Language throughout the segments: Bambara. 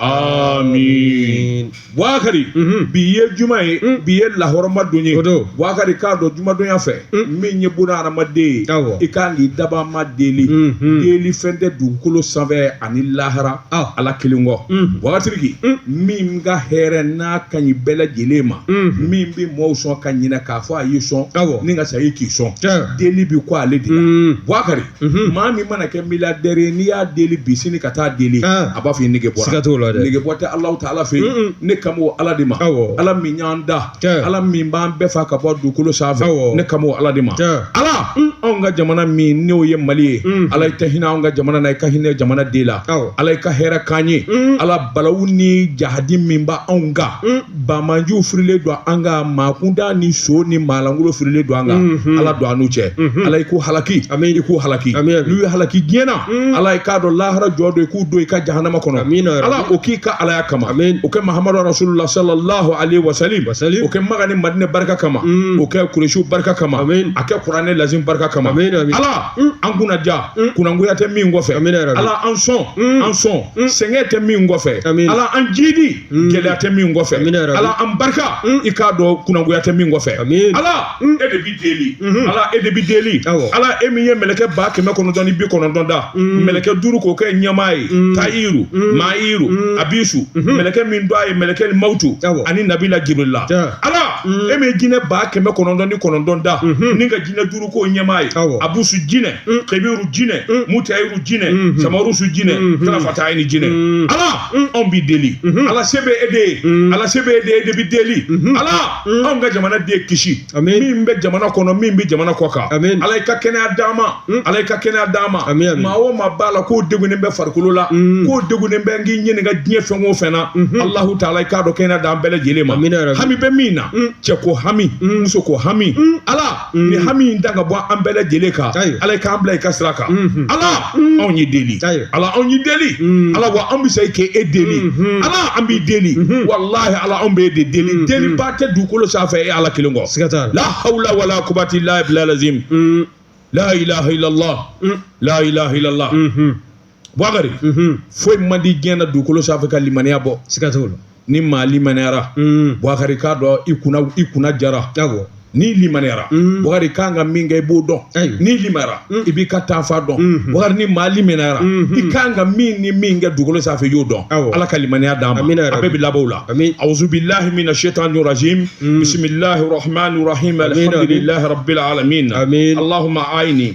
Aamiin Bouakari unhun bi ye juma ye un bi ye lahɔrɔma don ye o don Bouakari k'a dɔn jumadonya fɛ un min ye buna hadamaden ye awɔ i kaan k'i dabaa ma deli unhun deli fɛn tɛ dugukolo sanfɛ ani lahara ɔ Ala kelen kɔ un wagatitigi un min ka hɛrɛ n'a kaɲi bɛɛ lajɛlen ma unhun min bɛ mɔɔw sɔn ka ɲinɛ k'a fɔ a y'i sɔn awɔ ni ka sayi k'i sɔn tiɲɛ deli bi kɔ ale de la un Bouakari maa min mana kɛ miliyadɛri n'i y'a deli bi sini ka taa deli a b'a fɔ i nege bɔra nege bɔ tɛ alahu ta'ala fɛ yen ne kan b'o ala de ma ala min y'an da ala min b'an bɛɛ faa ka bɔ dugukolo sanfɛ ne kan b'o ala de ma ala anw ka jamana min n'o ye mali ye ala i tɛ hinɛ an ka jamana na i ka hinɛ jamanaden la ala i ka hɛrɛ k'an ye ala balawu ni jahadi min b' anw kan Banbaanciw firilen don an kan maa kuntan ni son ni maalankolon firilen don an kan mhm. ala don an n'u cɛ mhm. ala i k'u halaki a i k'u halaki n'i y'u halaki diɲɛ na mhm. ala k'a dɔn lahara jɔ don i k'u don i ka jahanama kɔnɔ ala o k'i ka alaya kama o kɛ mahamadu rasulullahi salalahu alehi wa salim o kɛ makan ni madina barika kama o kɛ kulusiw barika kama a kɛ kuranɛ lazimu barika kama ala an kunna ja kunnagoya tɛ min kɔfɛ ala an sɔn an sɔn sɛgɛn tɛ min kɔfɛ ala an jidi Mm. gɛlɛya tɛ min kɔfɛ ala an barika mm. i k'a dɔn kunnagoya tɛ min kɔfɛ ala mm. e de bi deli mm-hmm. ala e de bi deli ala e min ye mɛlɛkɛ ba kɛmɛ kɔnɔntɔn ni bi kɔnɔntɔn da mɛlɛkɛ duuru k'o kɛ ɲɛmaa ye tayiru maayiru abisu mm-hmm. mɛlɛkɛ min tɔgɔ ye mɛlɛkɛli mawutu ani nabila jibirila ala e min ye jinɛ ba kɛmɛ kɔnɔntɔn ni kɔnɔntɔn da mm-hmm. ni ka jinɛ duuru k'o ɲɛmaa ye abusu jinɛ kebiru jinɛ mutayiru jinɛ samarusu jinɛ tarafatayini jinɛ ala anw bɛ deli ala se bɛ e de ye ala se bɛ e de e de bɛ deli ala anw ka jamanaden kisi min bɛ jamana kɔnɔ min bɛ jamana kɔ kan ala i ka kɛnɛya d'a ma ala i ka kɛnɛya d'a ma maa o maa b'a la k'o degunnen bɛ farikolo la k'o degunnen bɛ k'i ɲininka diɲɛ fɛn o fɛn na alahu ta'ala i k'a dɔn kɛnɛya d' an bɛɛ lajɛlen ma hami bɛ min na cɛ ko hami muso ko hami ala nin hami in ta ka bɔ an bɛɛ lajɛlen kan Ayiwa. ala k'an bila i ka sira kan Mhm. ala anw y'i deli Ayiwa. ala anw y'i deli Mm. ala wa an bɛ se k'e e deli Mhm. ala an b'i deli Mhm. walahi ala anw b'e de deli Mhm. deliba tɛ dugukolo sanfɛ e ala kelen kɔ siga t'a la la hawla wala kuwata illa billahi lazim Mm, la ilaha illallah mm, la ilaha illallah mhm. Bukari foyi man di diɲɛ na dugukolo sanfɛ ka limaniya bɔ siga t'o la ni maa limaniyara Bukari k'a dɔn i kunna i kunna jara n'i limaniyara Bukari i kan ka min kɛ i b'o dɔn n'i limaniyara i b'i ka taafan dɔn Bukari ni maa limaniyara i kan ka min ni min kɛ dugukolo sanfɛ i y'o dɔn Ala ka limaniya d'an ma amina yarabi a bɛɛ bɛ laban o la ami awuzubila mina sitani rajimi bisimila arahamani arahimi alihamidulilayi rabil alamina amina alahuma ayini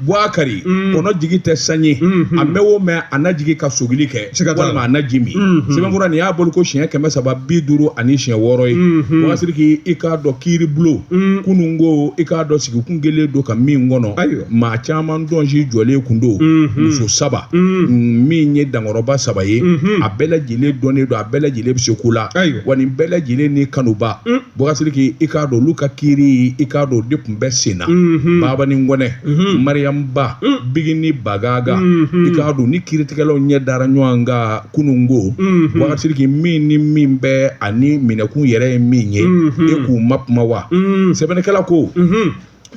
Bukari kɔnɔ jigi tɛ san ye a mɛn o mɛn a na jigin ka sogili kɛ walima a na ji min sɛbɛnkura nin y'a bɔli ko siɲɛ kɛmɛ saba bi duuru ani siɲɛ wɔɔrɔ ye Bokasiriki i k'a dɔn kiiribulon kunun ko i k'a dɔn sigi kun kɛlen don ka min kɔnɔ ayiwa maa caman dɔnsi jɔlen kun don muso saba min ye dankɔrɔba saba ye a bɛɛ lajɛlen dɔnnen don a bɛɛ lajɛlen bɛ se ko la ayiwa wa nin bɛɛ lajɛlen ni kanubaa Bokasiriki i k'a dɔn olu ka kiri i k'a dɔn de kun bɛ sen na Babani Kɔnɛ Mariyamu Ba Bigini Bagaga i k'a dɔn ni kiritigɛlaw ɲɛ dara ɲɔgɔn kan kununko bokasiriki min ni min bɛ ani minɛkun yɛrɛ ye min ye e k'u ma kuma wa sɛbɛnnikɛla ko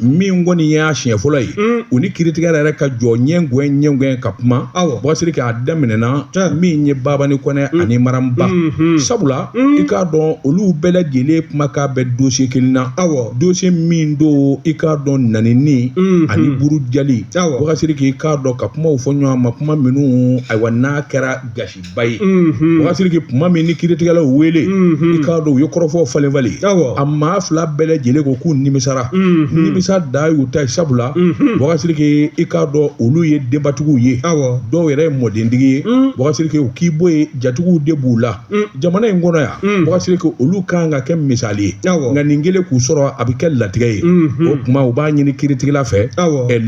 min kɔni y'a siɲɛ fɔlɔ ye mm. u ni kiritigɛla yɛrɛ ka jɔ ɲɛngɛn ɲɛngɛn ka kuma Bokasiriki a daminɛna min ye Babani Kɔnɛ mm. ani Maramu Ba mm-hmm. sabula mm. i k'a dɔn olu bɛɛ lajɛlen kuma k'a bɛ dosiye kelen na dosiye min don i k'a dɔn nɛnini mm-hmm. ani burujali Bokasiriki i k'a dɔn ka kumaw fɔ ɲɔgɔn ma kuma minnu ayiwa n'a kɛra gasi ba ye Bokasiriki tuma min ni kiritigɛla y'u wele i k'a dɔn u ye kɔrɔfɔw falen falen a maa fila bɛɛ lajɛlen ko k'u nimisara nimisa de y'u ta ye sabula Bokasiriki i k'a dɔn olu ye denbatigiw ye dɔw yɛrɛ ye mɔdentigi ye Bokasiriki o k'i bɔ yen jatigiw de b'u la jamana in kɔnɔ yan Bokasiriki olu kan ka kɛ misali ye nka nin kelen k'u sɔrɔ a bɛ kɛ latigɛ ye o tuma u b'a ɲini kiritigɛla fɛ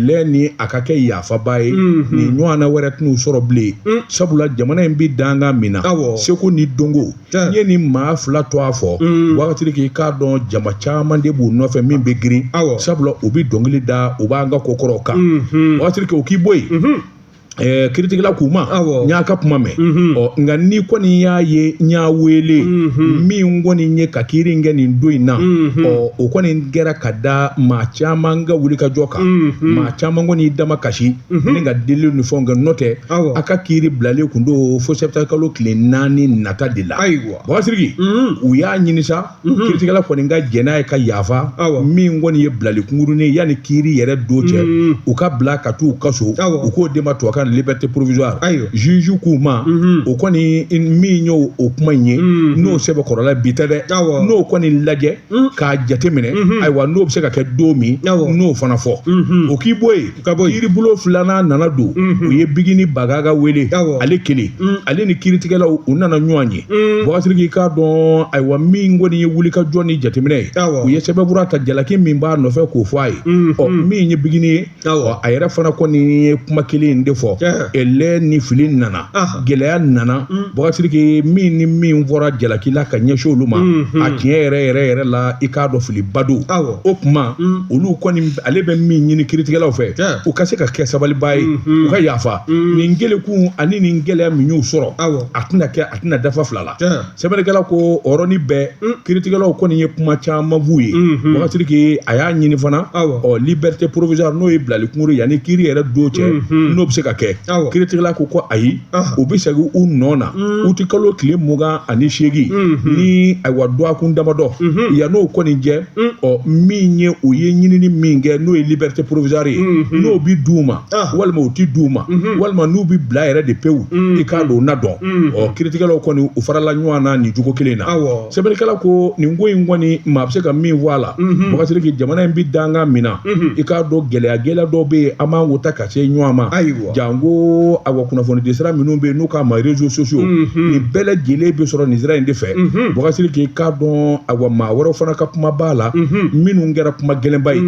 lɛ ni a ka kɛ ya faba ye nin ɲɔgɔnna wɛrɛ tɛn'u sɔrɔ bilen sabula jamana in bɛ danga min na seko ni dɔnko n'i ye nin maa fila tɔgɔ fɔ Bokasiriki i k'a dɔn jama caman de b'u nɔfɛ min bɛ girin sabula u bɛ dɔnkili da u b'an ka kokɔrɔw kan Bokasiriki o k'i bɔ yen kiritigɛla k'u ma n y'aw ka kuma mɛn ɔ nka n'i kɔni y'a ye n y'aw wele min kɔni ye ka kiiri kɛ nin don in na ɔ o kɔni kɛra ka da maa caman ka wuli ka jɔ kan maa caman kɔni y'i damakasi ni ka deli ni fɛn kɛ n'o tɛ aw ka kiri bilalen kun don fo septembre kalo tile naani nata de la ayiwa Bokasiriki u y'a ɲini sa kiritigɛla kɔni ka jɛn n'a ye ka yafa min kɔni ye bilali kunkurunnin ye yanni kiri yɛrɛ don cɛ u ka bila ka taa u ka so u k'o de ma tubabukan liberté provisoire ayiwa juge k'u ma o kɔni min ye o kuma in ye n'o sɛbɛn kɔrɔla bi tɛ dɛ n'o kɔni lajɛ Mm. k'a jateminɛ mm-hmm. ayiwa n'o bɛ se ka kɛ don min n'o fana fɔ mm-hmm. o k'i bɔ yen kiribulon filanan nana don mm-hmm. u ye Bigini Bagaga wele ale kelen mm. ale ni kiritigɛlaw u nana ɲɔgɔn ye mm. Bagasiriki k'a dɔn ayiwa min kɔni ye wuli ka jɔ ni jateminɛ ye u ye sɛbɛnfura ta jalaki min b'a nɔfɛ k'o fɔ a ye ɔ min ye Bigini ye a yɛrɛ fana kɔni ye kuma kelen in de fɔ ɛlɛ ni fili nana gɛlɛya nana mm. Bagasiriki min ni min fɔra jalaki la ka ɲɛsin olu ma mm-hmm. a tiɲɛ yɛrɛ yɛrɛ yɛrɛ la i k'a dɔn filiba don o kuma mm. olu kɔni ale bɛ min ɲini kiritigɛlaw fɛ u ka se ka kɛ sabaliba ye mm-hmm. u ka yafa mm. nin gɛlɛkun ani nin gɛlɛya min y'u sɔrɔ a tɛna kɛ a tɛna dafa fila la Sɛbɛnnikɛla ko ɔrɔni bɛɛ kiritigɛlaw kɔni ye kuma caman f'u ye Bagasiriki a y'a ɲini fana ɔ liberté provisoire n'o ye bilali kunkurun yanni kiri yɛrɛ don cɛ n'o bɛ se ka kɛ kiritigɛla ko ko ayi u bɛ segin u nɔ na utikalo tile mugan ani seegin ni ayiwa dɔgɔkun damadɔ yann'o kɔni cɛ ɔ min ye u ye ɲinini min kɛ n'o ye liberté provisoire ye n'o bɛ d'u ma walima u tɛ d'u ma walima n'u bɛ bila yɛrɛ de pewu i k'a dɔn na dɔn ɔ kiritigɛlaw kɔni u farala ɲɔgɔn na nin cogo kelen in na sɛbɛnnikɛla ko nin ko in kɔni maa bɛ se ka min fɔ a la Bagasiriki jamana in bɛ danga min na i k'a dɔn gɛlɛya gɛlɛya dɔ bɛ yen an b'an ko ta ka se ɲɔgɔn ma ayiwa janko awa kunnafoni di sira minnu bɛ yen n'u k'a ma réseaux sociaux nin bɛɛ lajɛlen bɛ sɔrɔ nin sira in de fɛ Bagasiriki k'a dɔn awa maa wɛrɛ fana ka kuma b'a la minnu kɛra kuma gɛlɛnba ye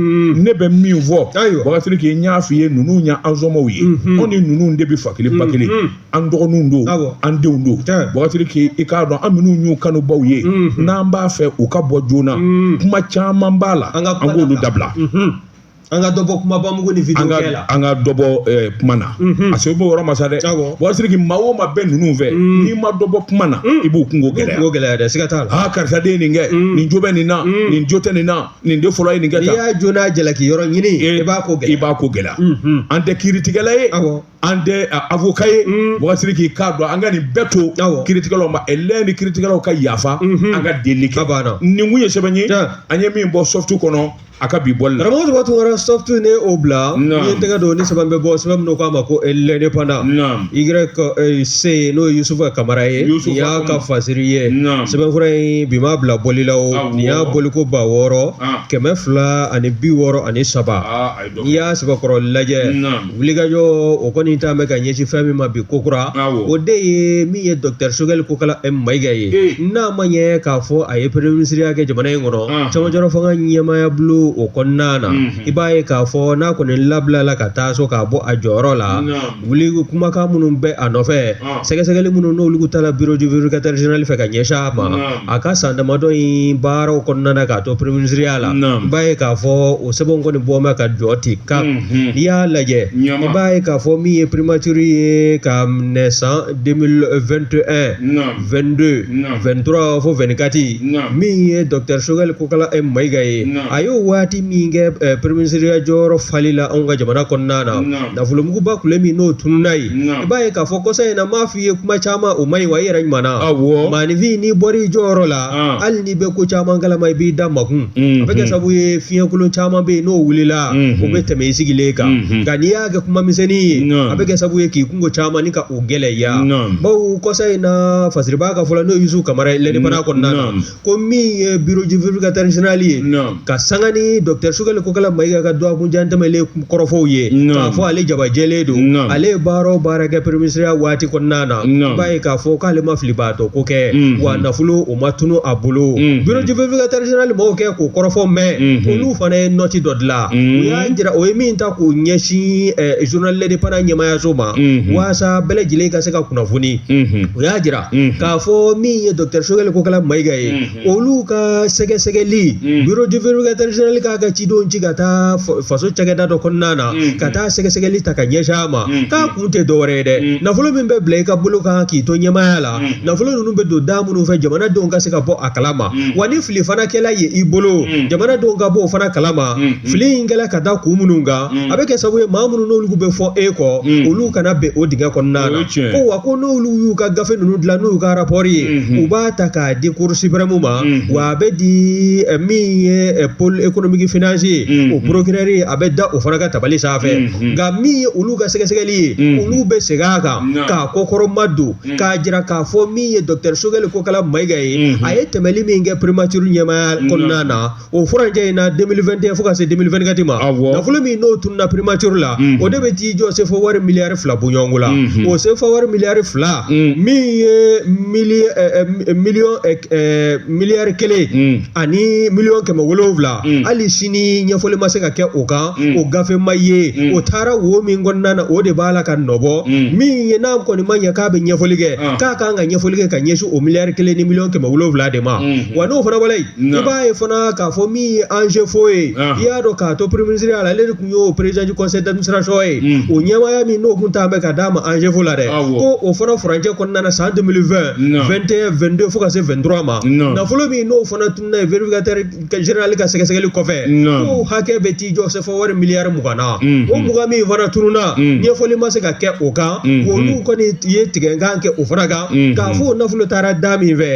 ne bɛ min fɔ Bagasiriki n y'a fɔ i ye ninnu ye an somaaw ye anw ni ninnu de bɛ fa kelen ba kelen an dɔgɔninw don an denw don Bagasiriki i k'a dɔn an minnu y'u kanubaw ye n'an b'a fɛ u ka bɔ joona kuma caman b'a la an k'olu dabila an ka dɔbɔ kumaba mugu ni vidéo kɛ la an ka dɔbɔ eh, kuma na mhm. a se b'o yɔrɔ ma sa dɛ Bagasiriki maa o maa bɛ ninnu fɛ mm. n'i ma dɔbɔ kuma na mm. i b'u kunko gɛlɛya kunko gɛlɛya dɛ siga t'a la aa karisa de ye nin kɛ mm. nin jo bɛ nin na nin jo tɛ nin na nin de fɔlɔ ye nin kɛ tan n'i y'a jo n'a jalaki yɔrɔ ɲini eh, i b'a ko gɛlɛya i b'a ko gɛlɛya mhm. an tɛ kiiritigɛla ye awɔ an tɛ avocat ye Bagasiriki k'a dɔn an ka nin bɛɛ to kiritigɛlaw ma ɛlɛ ni kiritigɛlaw ka yafa an ka delili kɛ nin kun ye sɛbɛn ye an ye min bɔ Soft kɔnɔ a ka bi bɔli la karamɔgɔ Boubacar Tunkara Soft ne o bila n'i ye tɛgɛ don ni sɛbɛn bɛ bɔ sɛbɛn min n'o k'a ma ko l'indépendant YC n'o ye Yusufa Kamara ye nin y'a ka fasiri ye sɛbɛnfura in bi m'a bila bɔli la o nin y'a bɔliko ba wɔɔrɔ kɛmɛ fila ani bi wɔɔrɔ ani saba. n'i y'a sɛbɛkɔrɔ lajɛ wulikajɔ o kɔni ta bɛ ka ɲɛsin fɛn min ma bi kokura o de ye min ye dɔkitari Choguel Kokalla Maïga ye n'a ma ɲɛ k'a fɔ a ye premier ministriya kɛ jamana in kɔnɔ camancɛla fanga ɲɛmaaya bulon o kɔnɔna na i b'a ye k'a fɔ n'a kɔni labilala ka taa so k'a bɔ a jɔyɔrɔ la wuli kumakan minnu bɛ a nɔfɛ sɛgɛsɛgɛli minnu n'olu taara bureau du vérificateur général fɛ ka ɲɛsin a ma a ka san damadɔ in baaraw kɔnɔna na k'a to premier ministre la i b'a ye k'a fɔ o sɛbɛn kɔni bɔ bɛ ka jɔ ten kan n'i y'a lajɛ i b'a ye k'a fɔ min ye primature ye ka minɛ san 2021 22 23 fo 24 min ye docteur Sogɛli Kokala Mayiga ye a y'o waati min kɛ premier ministre jɔyɔrɔ fali la anw ka jamana kɔnɔna na nafolomuguba kulu min n'o tununa ye, naamu, i b'a ye k'a fɔ kɔsa in na m'a fɔ i ye kuma caman o man ɲi wa i yɛrɛ ɲuman na, awɔ, maaninfin n'i bɔra i jɔyɔrɔ la, an, hali n'i bɛ ko caman kalama i b'i da makun, unhun, a bɛ kɛ sababu ye fiɲɛkolon caman bɛ yen n'o wulila, unhun, o bɛ tɛmɛ i sigilen kan, unhun, nka n'i y'a kɛ kuma misɛnnin ye, naamu, a bɛ kɛ sababu ye k'i kunko caman ni ka o gɛlɛya, naamu, bawo kɔsa in na fasiribaa ka fɔ la n'o ye Yusu Kamara ye lɛnibana kɔnɔna na, naamu ko min ye bureau du vérificateur général ye ka sanga ni docteur Sogɛli Kokala Mayiga ka dɔgɔkunjan tɛmɛnlen kɔrɔfɔw ye k'a fɔ ale jabajɛlen don ale ye baara o baara kɛ premier ministre waati kɔnɔna na i b'a ye k'a fɔ k'ale ma fili b'a dɔn ko kɛ wa nafolo o ma tunun a bolo bureau du vérificateur général mɔgɔw kɛ k'o kɔrɔfɔ mɛn olu fana ye nɔti dɔ dilan u y'a jira o ye min ta k'o ɲɛsin journal L'Indépendant ɲɛmaayaso ma walasa bɛɛ lajɛlen ka se ka kunnafoni u y'a jira k'a fɔ min ye docteur Sogɛli Kokala Mayiga ye olu ka sɛgɛsɛgɛli bureau du vérificateur général k'a ka cidenw ci ka taa faso cakɛda dɔ kɔnɔna na ka taa sɛgɛsɛgɛli ta ka ɲɛsin a ma k'a kun tɛ dɔwɛrɛ ye dɛ nafolo min bɛ bila i ka bolo kan k'i to ɲɛmaaya la nafolo ninnu bɛ don da minnu fɛ jamanadenw ka se ka bɔ a kalama wa ni fili fana kɛla ye i bolo jamanadenw ka bɔ o fana kalama fili in kɛra ka da kun minnu kan mm. a bɛ kɛ sababu ye maa minnu n'olu bɛ fɔ e kɔ mm. olu kana bin o dingɛ kɔnɔna na ko wa ko n'olu y'u ka gafe ninnu dilan n'u ka rapport ye mm-hmm. u b'a ta k'a di cour suprême ma mm-hmm. wa a bɛ di eh, min ye eh, pôle économique financier o mm-hmm. procureur ye a bɛ da o fana ka tabali sanfɛ nka min ye olu ka sɛgɛsɛgɛli ye olu bɛ segin a kan k'a kɔkɔrɔma don k'a jira k'a fɔ min ye docteur Sogɛli Kokala Mayiga ye a ye tɛmɛli min kɛ primature ɲɛmaaya kɔnɔna na o furancɛ in na 2021 fo ka se 2024 ma nafolo min n'o tununa primature la o de bɛ t'i jɔ CFA wari miliyari fila bɔɲɔgɔnko la o CFA wari miliyari fila min ye miliyari kelen ani miliyɔn kɛmɛ wolowula hali sini ɲɛfɔli ma se ka kɛ o kan o gafe ma ye o taara wo min kɔnɔna na o de b'a la ka nɔbɔ min ye n'a kɔni ma ɲɛ k'a bɛ ɲɛfɔli kɛ k'a ka kan ka ɲɛfɔli kɛ ka ɲɛsin o miliyari kelen ni miliyɔn kɛmɛ wolowula de ma wa n'o fana wale i b'a ye fana k'a fɔ min ye anzefo ye i y'a dɔn k'a to peremisiri a la ale de tun y'o perezji kɔsɔnsɔn ye o ɲɛwaaya min n'o tun ta bɛ ka d'a ma anzefo la dɛ ko o fana fcɛ kɔnɔna san tɛmɛn2tɛn2te fo ka se fɛntura ma nafolo min n'o fana tun ye vfinka ka sɛgɛsɛgɛli kɔfɛ ko hakɛ bɛ t'i jɔ fa wari miliyari mugan na o mugan min fana tununna ɲɛfɔli ma se ka kɛ o kan olu kɔni ye tigɛkan kɛ o fana kan k'a fɔ o nafolo taara da min fɛ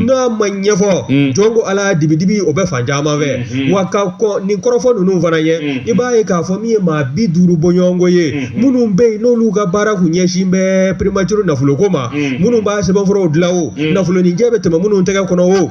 n'a ma ɲɛfɔ jɔn ko ala dibidibi o bɛ fan caman fɛ wa ka kɔ nin kɔrɔfɔ ninnu fana ye i b'a ye k'a fɔ min ye maa bi duuru bɔɲɔgɔnko ye minnu bɛ yen n'olu ka baara kun ɲɛsin bɛ perematuru nafoloko ma minnu b'a sɛbɛnfuraw dilan o nafolonijɛ bɛ tɛmɛ minnu tɛgɛ kɔnɔ o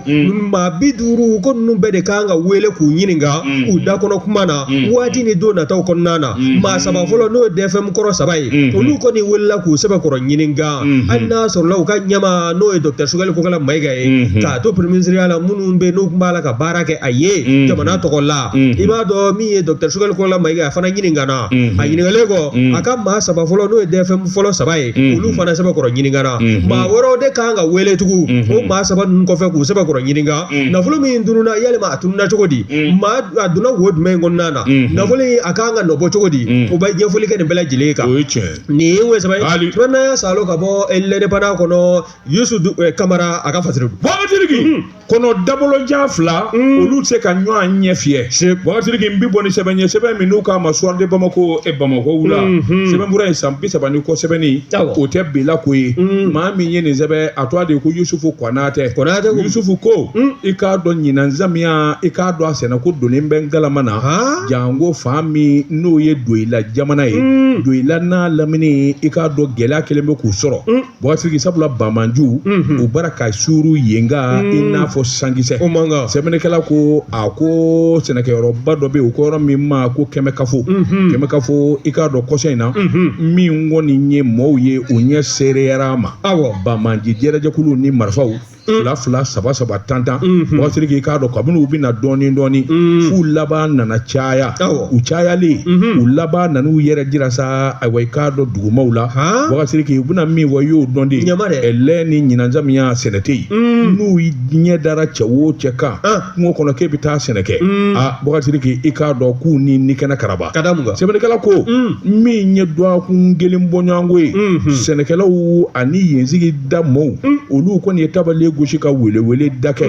maa bi duuru ko ninnu bɛɛ de kan ka wele k'u ɲininka u dakɔnɔ kuma na waati ni don nataw kɔnɔna na maa saba fɔlɔ n'o ye dɛfɛmu kɔrɔ saba ye olu kɔni welela k'u sɛbɛkɔrɔ ɲininka hali n'a sɔrɔla u ka ɲɛmaa n'o ye dɔkita sugɛli kokala mayiga ye k'a to pereminsiriya la minnu bɛ n'u tun b'a la ka baara kɛ a ye jamana tɔgɔ la i b'a dɔn min ye dɔkita sugɛli kokala mayiga a fana ɲininkana a ɲininkalen kɔ a ka maa saba fɔlɔ n'o ye dɛfɛmu fɔlɔ saba ye olu fana sɛbɛkɔrɔ ɲininkana maa wɛrɛw de kan ka wele tugun o maa saba ninnu kɔfɛ k'u sɛbɛkɔrɔ ɲininka nafolo min tununna yalima a tununna cogo di maa a donna wo jumɛn kɔnɔna na nafolo in a ka kan ka nɔbɔ cogo di o bɛ ɲɛfɔli kɛ nin bɛɛ lajɛlen kan nin ye o sɛbɛn ye tuma sa ka bɔ lɛndepandan kɔnɔ yusu kamara a k'a fɔ Bukasiriki kɔnɔ dabolojan fila olu tɛ se ka ɲɔgɔn ɲɛ fiyɛ Bukasiriki n bɛ bɔ ni sɛbɛn ye sɛbɛn min n'u k'a ma suwari de bamakɔ e bamakɔ wula sɛbɛnfura in san bi saba ni kɔ sɛbɛn o tɛ bilako ye maa min ye nin sɛbɛn a tɔgɔ de ye ko Yusufu Konatɛ Yusufu ko i k'a dɔn ɲinan samiya i k'a dɔn a sɛnɛko donnen bɛ ngalama na janko fan min n'o ye doyila jamana ye doyila n'a lamini i k'a dɔn gɛlɛya kelen bɛ k'u sɔrɔ Bukasiriki sabula banbaanciw bara ka suuru yen kan i n'a fɔ sankisɛ sɛbɛnnikɛla ko a ko sɛnɛkɛyɔrɔba dɔ bɛ yen u ko yɔrɔ min ma ko kɛmɛkafo kɛmɛkafo i k'a dɔn kɔsa in na min kɔni ye mɔgɔw ye u ɲɛ seereyara a ma banbaanci jɛrɛjɛkuluw ni marifaw fila fila saba saba tan tan Bukasiriki i k'a dɔn kabini u bɛ na dɔɔnin dɔɔnin f'u laban nana caya u cayalen u laban nana u yɛrɛ jira sa ayiwa i k'a dɔn dugumaw la Bukasiriki u bɛ na min fɔ i y'o dɔn dɛ lɛ ni ɲinan samiya sɛnɛ tɛ yen n'u ɲɛ dara cɛ wo cɛ kan kungo kɔnɔ k'e bɛ taa sɛnɛ kɛ a Bukasiriki i k'a dɔn k'u ni ni kɛnɛ karaba ka da mun kan sɛbɛnnikɛla ko min ye dɔgɔkun kelen bɔɲɔgɔnko ye sɛnɛkɛlaw ani yen sigida mɔɔw olu kɔni ye tabale gosi ka weleweleda kɛ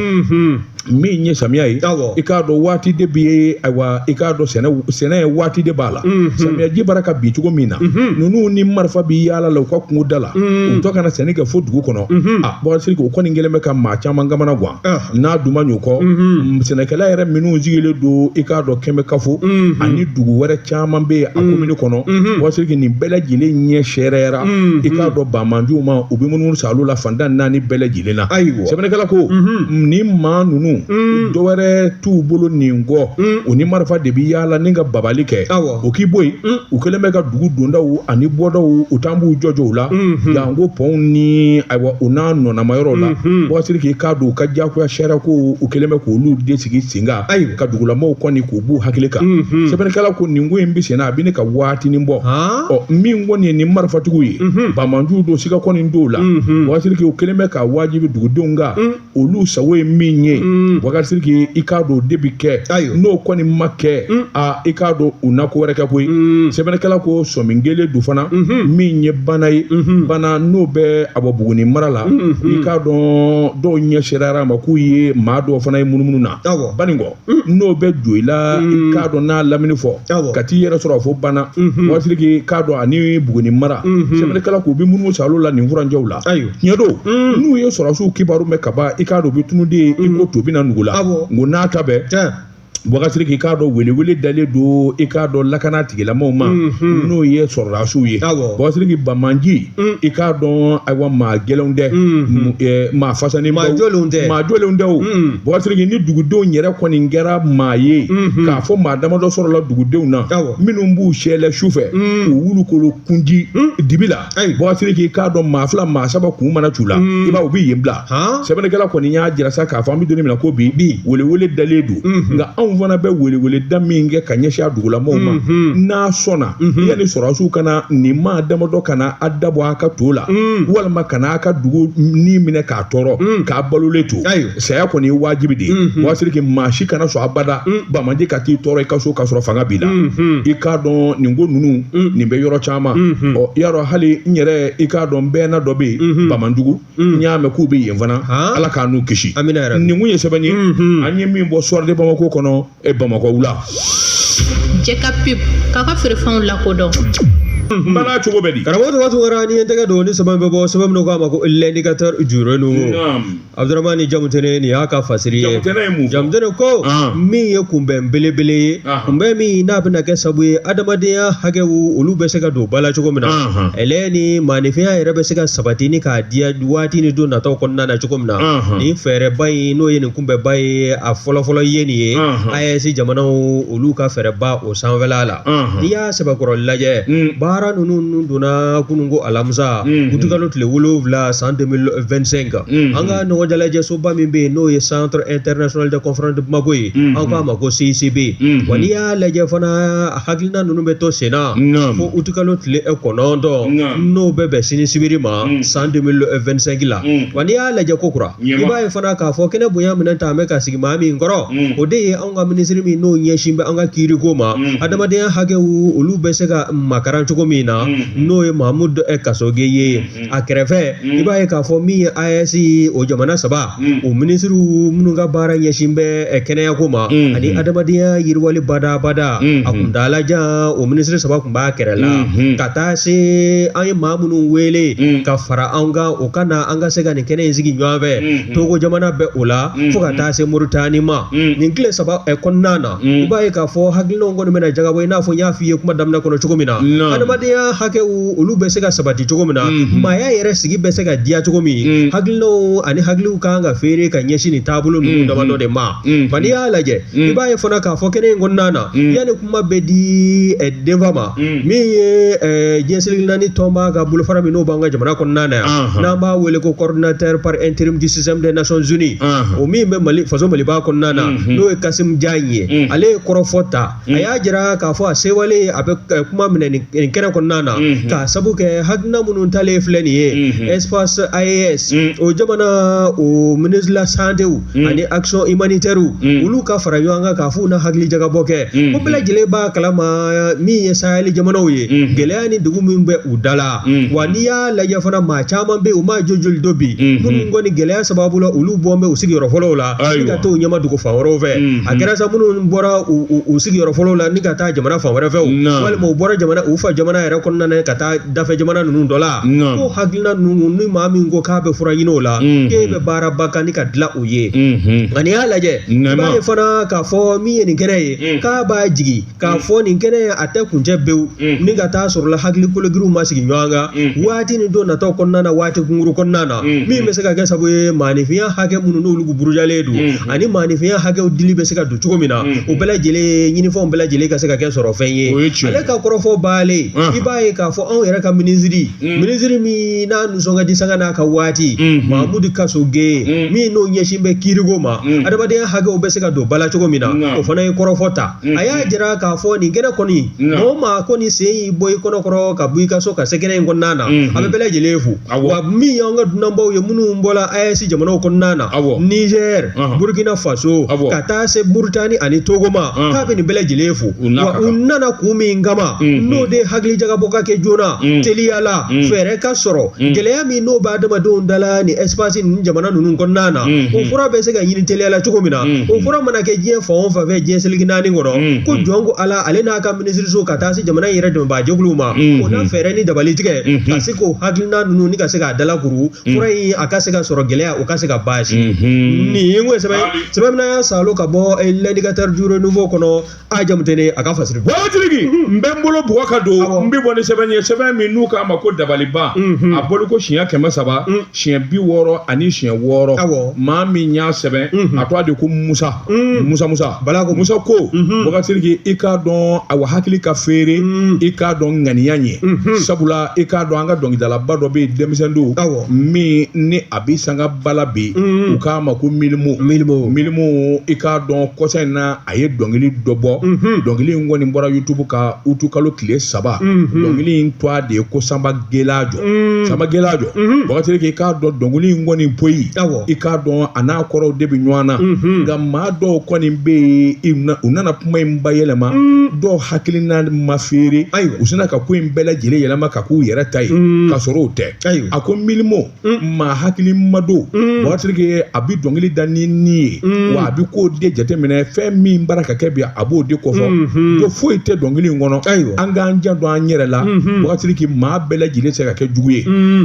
min ye samiya ye awɔ i k'a dɔn waati de bɛ ye ayiwa i k'a dɔn sɛnɛ sɛnɛ ye waati de b'a la samiyaji bara ka bin cogo min na ninnu ni marifa bɛ yaala la u ka kungo da la u tɔ kana sɛnɛ kɛ fo dugu kɔnɔ a Bukasiriki o kɔni kɛlen bɛ ka maa caman kamanagwan. n'a dun man ɲɛ o kɔ sɛnɛkɛla yɛrɛ minnu sigilen don i k'a dɔn Kɛmɛkafo ani dugu wɛrɛ caman bɛ yen a komini kɔnɔ Bakari Siriki nin bɛɛ lajɛlen ɲɛ sɛɛrɛyara i k'a dɔn banbaanciw ma u bɛ munumunu sa olu la fan tan ni naani bɛɛ lajɛlen na ayiwa sɛbɛnnikɛla ko nin maa ninnu dɔwɛrɛ t'u bolo nin kɔ u ni marifa de bɛ yaala ni ka babali kɛ o k'i bɔ yen u kɛlen bɛ ka dugu dondaw ani bɔdaw u taa b'u jɔjɔ u la N ko pɔnw ni ayiwa u n'a nɔnama yɔrɔ la Bakari Siriki i k'a dɔn u ka jagoya sariya ko u kɛlen bɛ k' olu de sigi sen kan ka dugulamaw kɔni k'u b'u hakili kan sɛbɛnnikɛla ko nin ko in bɛ senna a bɛ ɲini ka waatinin bɔ ɔ min kɔni ye nin marifatigiw ye banbaanciw don sika kɔni t'o la Bakari Siriki u kɛlen bɛ k'a wajibi dugudenw kan olu sago ye min ye mm. Bakari Siriki i k'a dɔn o de bɛ kɛ n'o kɔni ma kɛ mm. aa i k'a don u na ko wɛrɛ kɛ koyi mm. sɛbɛnnikɛla ko sɔmi kɛlen don fana mm-hmm. min ye Banan ye mm-hmm. Banan n'o bɛ a bɔ buguni mara la mm-hmm. i k'a dɔn dɔw ɲɛ sɛɛrɛyara a ma k'u ye maa dɔw fana ye munumunu na Banikɔ n'o bɛ Joyila i k'a dɔn n'a lamini fo Awɔ. ka t'i yɛrɛ sɔrɔ a fo Banan Bakari Siriki i k'a dɔn ani buguni mara sɛbɛnnikɛla k'u bɛ munumunu sa olu la nin furanjɛw la Ayiwa. tiɲɛ don n'u ye sɔrɔdasiw kibaru mɛn ka ban i k'a dɔn u bɛ tunun dɛ i ko to bɛ na nugu la Awɔ. nk'o n'a ta bɛɛ Tiɲɛ. Bakari Siriki i k'a dɔn welewele dalen don i k'a dɔn lakana tigilamaw ma n'o ye sɔrɔdasiw ye Awɔ. Bakari Siriki banbaanci i k'a dɔn ayiwa maa gɛlɛnw tɛ maa fasanen maa jɔlenw tɛ maa jɔlenw tɛ o Bakari Siriki ni dugudenw yɛrɛ kɔni kɛra maa ye k'a fɔ maa damadɔ sɔrɔla dugudenw na minnu b'u sɛlɛ su fɛ k'u wulu kolo kun ci dibi la Bakari Siriki i k'a dɔn maa fila maa saba kun mana c'u la i b'a u bɛ yen bila sɛbɛnnikɛla kɔni y'a jira sa k'a fɔ an bɛ don min na ko bi bi welewele dalen don mhm. nka anw fana bɛ welewele da min kɛ ka ɲɛsin a dugulamaw ma mhm. n'a sɔnna mhm. yanni sɔrɔdasiw ka na nin maa damadɔ kana a da bɔ a ka to la walima kana a ka dugu ni minɛ k'a tɔɔrɔ k'a balolen to saya kɔni ye wajibi de ye Bakari Siriki maa si kana sɔn abada banbaanci ka t'i tɔɔrɔ i ka so k'a sɔrɔ fanga b'i la i k'a dɔn nin ko ninnu nin bɛ yɔrɔ caman ɔ i y'a dɔn hali n yɛrɛ i k'a dɔn bɛɛ na dɔ bɛ yen bamanjugu n y'a mɛn k'u bɛ yen fana ala k'an n'u kisi nin tun ye sɛbɛn ye an ye min bɔ Soir de Bamako kɔnɔ bamakɔ wula jɛ ka pe k'a ka feerefɛnw lakodɔn Mhm. bala cogo bɛ di karamɔgɔ tɔgɔ tun kɛra ni ye tɛgɛ don ni sɛbɛn bɛ bɔ sɛbɛn min k'a ma ko l'indicateur du renouveau Abuduramani jamutɛnɛ nin y'a ka fasiri ye jamutɛnɛ ko min ye kunbɛn belebele ye kunbɛn min n'a bɛna kɛ sabu ye adamadenya hakɛw olu bɛ se ka don ba la cogo min na ale ni maaninfinya yɛrɛ bɛ se ka sabati ni k'a diya waati ni don nataw kɔnɔna na cogo min na ni fɛɛrɛba in n'o ye nin kunbɛnba ye a fɔlɔfɔlɔ ye nin ye AES jamanaw olu ka fɛɛrɛba o sanfɛla la n'i y'a sɛbɛkɔrɔ lajɛ baara ninnu donna kunun ko alamisa utikalo tile wolowula san 2025 an ka ɲɔgɔnjalajɛsoba min bɛ yen n'o ye Centre International de Conférence de Bamako ye Mm-hmm. an k'a ma ko CICB Mm-hmm. wa n'i y'a lajɛ fana hakilina ninnu bɛ to sen na Naam. fo utikalo tile eh, kɔnɔntɔn Naam. n'o bɛ bɛn sini sibiri ma Mm. san 2025 la Mm. wa n'i y'a lajɛ ko kura i Naam. b'a ye fana k'a fɔ kɛnɛ bonya minɛn ta an bɛ ka sigi maa min kɔrɔ Mm. o de ye anw ka minisiri min n'o ɲɛsin bɛ an ka kiiriko ma Mm. adamadenya hakɛw olu bɛ se ka makaran cogo min na Mm. n'o ye Mahamud eh, Kasoge ye a kɛrɛfɛ i b'a ye k'a fɔ min ye AES ye o jamana saba o minisiriw minnu ka baara ɲɛsin bɛ ɛ, kɛnɛyako ma ani adamadenya yiriwali badabada a kuntaala jan o minisiri saba tun b'a kɛrɛ la ka taa se an ye maa minnu wele ka fara an kan o ka na an ka se ka nin kɛnɛ in sigi ɲɔgɔn fɛ Togo jamana bɛ o la fo ka taa se Moritani ma nin tile saba ɛ, kɔnɔna na i b'a ye k'a fɔ hakilinaw kɔni bɛna jagabɔ i n'a fɔ n y'a f'i ye kuma daminɛ kɔnɔ cogo min na Naamu. adamadenya hakɛw olu bɛ se ka sabati cogo min na maaya yɛrɛ sigi bɛ se ka diya cogo min ye hakilinaw ani hakiliw kan ka feere ka ɲɛsin nin taabolo ninnu damadɔ de ma ban n'i y'a lajɛ i b'a ye fana k'a fɔ kɛnɛ in kɔnɔna na yanni kuma bɛ di denfa ma min ye diɲɛ seleke naani tɔnba ka bolofara min n'o b'an ka jamana kɔnɔna na yan n'an b'a wele ko coordinateur par intérim du système des Nations Unies o min bɛ Mali faso Maliba kɔnɔna na n'o ye Khassim Diagne ye ale ye kɔrɔfɔ ta a y'a jira k'a fɔ a sewale a bɛ eh, kuma minɛ nin nin kɛnɛ kɔnɔna na Mhm. k'a sabu kɛ hakilina minnu talen filɛ nin ye Mhm. espace AES Mhm. o jamana o ministre de la santé w Mhm. ani action humanitaire w Mhm. olu ka fara ɲɔgɔn kan k'a f'u na hakili jagabɔ kɛ Mhm. ko bɛɛ lajɛlen b'a kalama min ye sahɛli jamanaw ye Mhm. gɛlɛya ni degun min bɛ u da la Mhm. wa n'i y'a lajɛ fana maa caman bɛ yen u m'a jojoli dɔn bi Mhm. minnu kɔni gɛlɛya sababu la olu bɔn bɛ u sigiyɔrɔ fɔlɔw la ni ka t'u ɲɛma dugu fan wɛrɛw fɛ Mhm. a kɛra sa minnu bɔra u- u u sigiyɔrɔ fɔlɔw la ni ka taa jamana fan wɛrɛ fɛ o Naam. walima u bɔra jamana u fa jamana yɛrɛ kɔnɔna na ka taa dafɛ jamana ninnu dɔ la Naam. ko hakilina ninnu ni maa min ko k'a bɛ fura ɲini o la Mhm. k'e bɛ baaraba kan ni ka dilan o ye Mhm. nka n'i y'a lajɛ i Naam. b'a ye fana k'a fɔ min ye nin kɛnɛ ye Mhm. k'a b'a jigi k'a fɔ nin kɛnɛ ye a tɛ kuncɛ pewu ni ka taa sɔrɔ la hakili kologirinw ma sigi ɲɔgɔn kan waati ni don nataw kɔnɔna na waati kunkuru kɔnɔna na min bɛ se ka kɛ sababu ye maaninfinya hakɛ minnu n'olu burujalen don ani maaninfinya hakɛw dili bɛ se ka don cogo min na u bɛɛ lajɛlen ɲinifɛnw bɛɛ lajɛlen ka se ka kɛ sɔrɔfɛn ye ale ka kɔrɔfɔ banlen i b'a ye k'a fɔ anw yɛrɛ ka minisiri minisiri min n'a nisɔn ka di sanga n'a ka waati Mamudu Kasoge min n'o ɲɛsin bɛ kiiriko ma adamadenya hakɛw bɛ se ka don ba la cogo min na o fana ye kɔrɔfɔ ta a y'a jira k'a fɔ nin kɛnɛ kɔni o maa kɔni sen y'i bɔ i kɔnɔkɔrɔ ka bɔ i ka so ka se kɛnɛ in kɔnɔna na a bɛ bɛɛ lajɛlen fo awa min y'an ka dunanbaw ye minnu bɔla AES jamanaw kɔnɔna na nizɛri burukina faso ka taa se moritani ani togo ma k'a bɛ nin bɛɛ lajɛlen fo u nana kun min kama n'o de hakilijakabɔ ka kɛ joona teliya la fɛɛrɛ ka sɔrɔ gɛlɛya min n'o bɛ adamadenw da la ni espace nin jamana ninnu kɔnɔna na o fura bɛ se ka ɲini teliya la cogo min na o fura mana kɛ diɲɛ fan o fan fɛ diɲɛ seleke naani kɔnɔ ko jɔn ko ala ale n'a ka minisiriso ka taa se jamana yɛrɛ dɛmɛbaajɛkuluw ma o na fɛɛrɛ ni dabali tigɛ ka se k'o hakilina ninnu ni ka se k'a dalakuru fura in a ka se ka sɔrɔ gɛlɛya o ka se ka basi nin sɛbɛn y'a sa ka bɔ l'indicateur du renouveau kɔnɔ a jamu tɛ ne a ka fasiri bokasiriki n bɛ n bolo bugɔ ka don n bɛ bɔ ni sɛbɛn ye sɛbɛn min n'u k'a ma ko dabaliban a bɔliko siɲɛ kɛmɛ saba siɲɛ bi wɔɔrɔ ani siɲɛ wɔɔrɔ maa min y'a sɛbɛn a tɔgɔ de ko musa musa musa bala ko musa ko bokasiriki i k'a dɔn awa hakili ka feere i k'a dɔn ŋaniya ɲɛ sabula i k'a dɔn an ka dɔnkilidalaba dɔ bɛ yen denmisɛn don min ni a bɛ sangaba la bi u k'a ma ko milimo milimo milimo i k'a dɔn kɔsa in na a ye dɔnkili dɔ bɔ dɔnkili in kɔni bɔra yutubu kan utu kalo tile saba dɔnkili in tɔgɔ de ye ko sanba gelajo sanba gelajo bokasiriki i k'a dɔn dɔnkili in kɔni poyi i k'a dɔn a n'a kɔrɔw de bɛ ɲɔgɔn na nka maa dɔw kɔni bɛ yen u nana kuma in bayɛlɛma dɔw hakilina ma feere ayi u sina ka ko in bɛɛ lajɛlen yɛlɛma k'a k'u yɛrɛ ta ye ka sɔrɔ o tɛ a ko milimo maa hakilima don bokasiriki a bɛ dɔnkili da ni ni ye wa a bɛ k'o de jateminɛ fɛn min bara ka kɛ bi a b'o de kofɔ ko foyi tɛ dɔnkili in kɔnɔ ayiwa an k'an janto an yɛrɛ la bokasiriki maa bɛɛ lajɛlen se ka kɛ jugu ye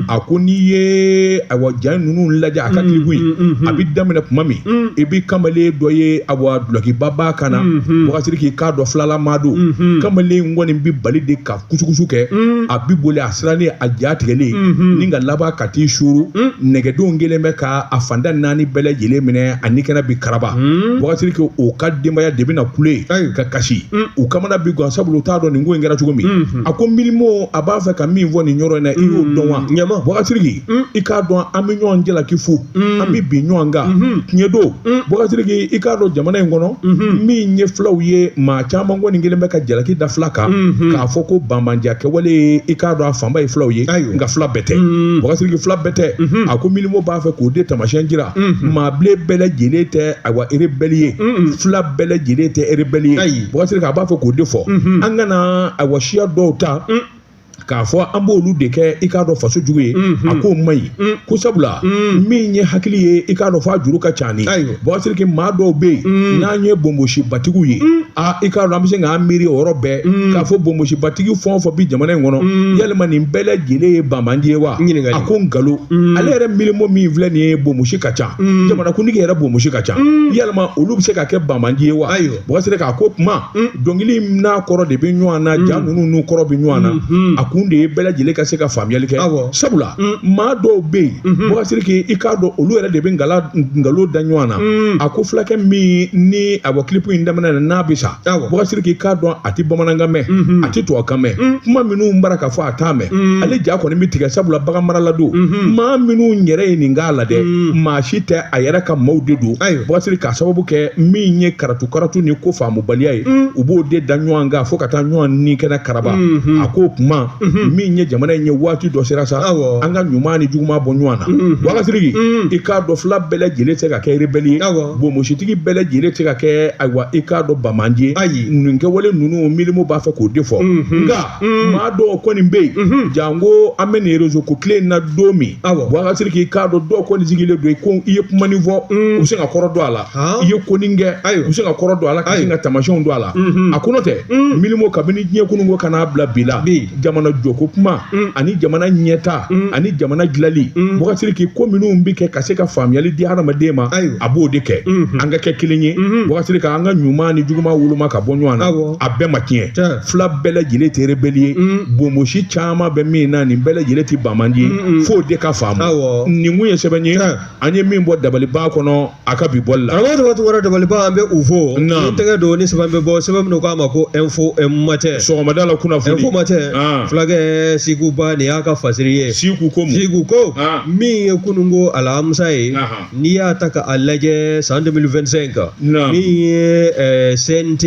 a ko n'i ye awa ja ninnu lajɛ a ka kilipu in a bɛ daminɛ tuma min i bɛ kamalen dɔ ye awa dulɔkiba b'a kan na bokasiriki i k'a dɔn filalama don kamalen kɔni bɛ boli de ka kusukusu kɛ mm. a bi boli a sirannen a ja tigɛlen mm-hmm. ni ka laban ka t'i suru mm. nɛgɛdenw kelen bɛ ka a fanda naani bɛɛ lajɛlen minɛ a ni kɛnɛ bi karaba mm. bokasiriki o ka denbaya de bɛna kule ka kasi u kamana bi gan sabula u t'a dɔn nin ko in kɛra cogo min mm-hmm. a ko milimo a b'a fɛ ka min fɔ nin yɔrɔ in na i y'o dɔn wa ɲɛma bokasiriki i k'a dɔn an bɛ ɲɔgɔn jalaki fo an bɛ bin ɲɔgɔn kan tiɲɛ don bokasiriki i k'a dɔn jamana in kɔnɔ min ye fulaw ye maa caman kɔni kelen bɛ ka jalaki da fila kan k'a fɔ ko banbaanciya kɛwale i k'a dɔn a fanba ye fulaw ye nka fila bɛɛ tɛ bokasiriki fila bɛɛ tɛ a ko milimo b'a fɛ k'o de tamasiɲɛ jira maa bilen bɛɛ lajɛlen tɛ awa erebɛli ye fila bɛɛ lajɛlen tɛ erebɛli ye bokasiriki a b'a fɛ k'o de fɔ an kana awa siya dɔw ta k'a fɔ an b'olu de kɛ i k'a dɔn faso jugu ye a k'o man ɲi ko sabula min ye hakili ye i k'a dɔn f'a juru ka ca ni wagasiri k'i maa dɔw bɛ yen n'an ye bonbosibatigiw ye aa i k'a dɔn an bɛ se k'an miiri o yɔrɔ bɛɛ k'a fɔ bonbosibatigi fɛn o fɛn bi jamana in kɔnɔ yalima nin bɛɛ lajɛlen ye banbaanci ye wa a ko nkalon ale yɛrɛ milimo min filɛ nin ye bonbosi ka ca jamanakuntigi yɛrɛ bonbosi ka ca yalima olu bɛ se ka kɛ banbaanci ye wa wagasiri k'a ko kuma dɔnkili n'a kɔrɔ de bɛ ɲɔgɔn na ja ninnu n'u kɔrɔ bɛ ɲɔgɔn na a kun de ye bɛɛ lajɛlen ka se ka faamuyali kɛ sabula maa dɔw bɛ yen wagasiri k'i k'a dɔn olu yɛrɛ de bɛ nkalon da ɲɔgɔn na a ko fulakɛ min ni a bɔ kilipu in daminɛ na n'a bɛ sa wagasiri k'i k'a dɔn a tɛ bamanankan mɛn a tɛ tubabukan mɛn kuma minnu b'a ra ka fɔ a t'a mɛn ale ja kɔni bɛ tigɛ sabula baganmarala don maa minnu yɛrɛ ye nin k'a la dɛ maa si tɛ a yɛrɛ ka maaw de don wagasiri k'a sababu kɛ min ye karatu karatu ni ko faamubaliya ye u b'o de da ɲɔgɔn kan fo ka taa ɲɔgɔn ni kɛnɛ karaba a ko kuma min ye jamana in ye waati dɔ sera sa an ka ɲuman ni juguman bɔ ɲɔgɔn na wagasiri k'i k'a dɔn fila bɛɛ lajɛlen tɛ se ka kɛ rebele ye bonbositigi bɛɛ lajɛlen tɛ se ka kɛ ayiwa i k'a dɔn banbaanci ye nin kɛwale ninnu milimo b'a fɛ k'o de fɔ Mm. maa dɔw kɔni bɛ yen mm-hmm. janko an bɛ nin rezo ko tile in na don min wagasiri k'i k'a dɔn dɔw kɔni sigilen don ko i ye kuma nin fɔ mm. u bɛ se ka kɔrɔ don a la i ye ko nin kɛ u bɛ se ka kɔrɔ don a la ka sin ka taamasiyɛnw don a la mm-hmm. a ko n'o tɛ mm. milimo kabini diɲɛ kunun ko ka n'a bila bi la jamana jɔko kuma ani jamana ɲɛta ani jamana dilali wagasiri k'i ko minnu bɛ kɛ ka se ka faamuyali di hadamaden ma a b'o de kɛ mm-hmm. an ka kɛ kelen ye wagasiri ka an ka ɲuman ni juguman woloma ka bɔ ɲɔgɔn na a bɛɛ ma tiɲɛ fila bɛɛ lajɛlen tɛ rebelle ye bonbosi caman bɛ min na nin bɛɛ lajɛlen tɛ banbaanci ye f'o de ka faamu Awɔ. nin kun ye sɛbɛn ye Tiɲɛ. an ye min bɔ dabaliban kɔnɔ a ka bi bɔli la Karamɔgɔ tɔgɔ tɔgɔ dabaliban an bɛ u fo Naamu. ni tɛgɛ don ni sɛbɛn bɛ bɔ sɛbɛn min k'a ma ko info matin sɔgɔmada la kunnafoni info matin Ah. fulakɛ siku ba nin y'a ka fasiri ye siku ko mun siku ko Ah. min ye kununko alamisa ye Ahan. N'i y'a ta ka a lajɛ san 2025 in kan, naamu, min ye ɛɛ CNT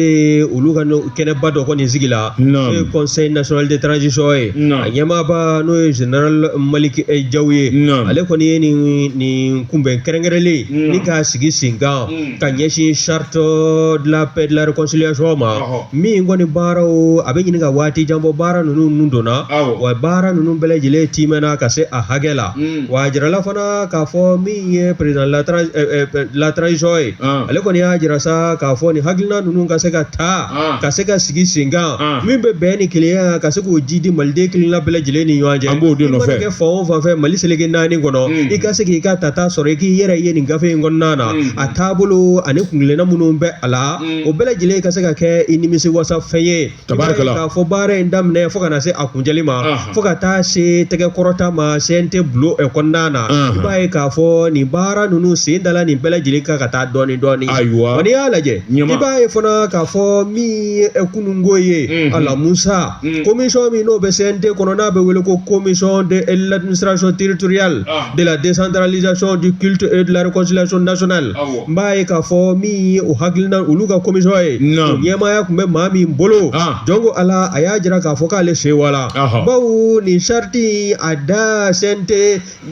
olu ka kɛnɛba dɔ kɔni sigila, naamu, n'o ye conseil national de transition ye, naamu, a ɲɛmaaba n'o ye général Maliki Jaw ye, naamu, ale kɔni ye nin nin kunbɛn kɛrɛnkɛrɛnlen, naamu, ni k'a sigi sen kan, un, ka ɲɛsin charte de la paix et de la réconciliation ma, ɔhɔ, min kɔni baaraw a bɛ ɲini ka waati jan bɔ baara ninnu donna, awɔ, wa baara ninnu bɛɛ lajɛlen tiimɛna ka se a hakɛ la, un wa a jirala fana k'a fɔ min ye président latara ɛ, ɛ, ɛ, la transition ye Ɔn. ale kɔni y'a jira sa k'a fɔ nin hakilina ninnu ka se ka ta Ɔn. ka se ka sigi sen kan Ɔn. min bɛ bɛn ni kelenya ka se k'o jiidi maliden kelenna bɛɛ lajɛlen ni ɲɔgɔn cɛ An b'o de nɔfɛ. I mana kɛ fan o fan fɛ mali seleke naani kɔnɔ Mm. i ka se k'i ka tata sɔrɔ i k'i yɛrɛ ye nin gafe in kɔnɔna na Mm. a taabolo ani kuntilenna minnu bɛ a la Mm. o bɛɛ lajɛlen ka se ka kɛ i nimisi wasa fɛn ye Tabarikala. K'a fɔ baara in daminɛ fo ka na se a kuncɛli ma. Anhan. Fo ka taa se tɛgɛ kɔrɔta ma CNT bulon ɛ kɔnɔna na. Anhan. I b'a ye k'a fɔ nin baara ninnu sen dala nin bɛɛ lajɛlen kan ka taa dɔɔni dɔɔni. Ayiwa. Wa n'i y'a lajɛ. Ɲɛma. I b'a ye fana k'a fɔ min ye ɛ kununko ye. Unhun. Ala Musa. Un. Commission min n'o bɛ CNT kɔnɔ n'a bɛ wele ko commission de l'administration territoriale. Anhan. De la décentralisation du culte et de la réconciliation nationale. Awɔ. n b'a ye k'a fɔ min ye o hakilina olu ka commission ye Naam. o ɲɛmaaya tun bɛ maa min bolo Ah. jɔn ko ala a y'a jira k'a fɔ k'ale sewala Ahɔ. bawo nin sariti in a da CNT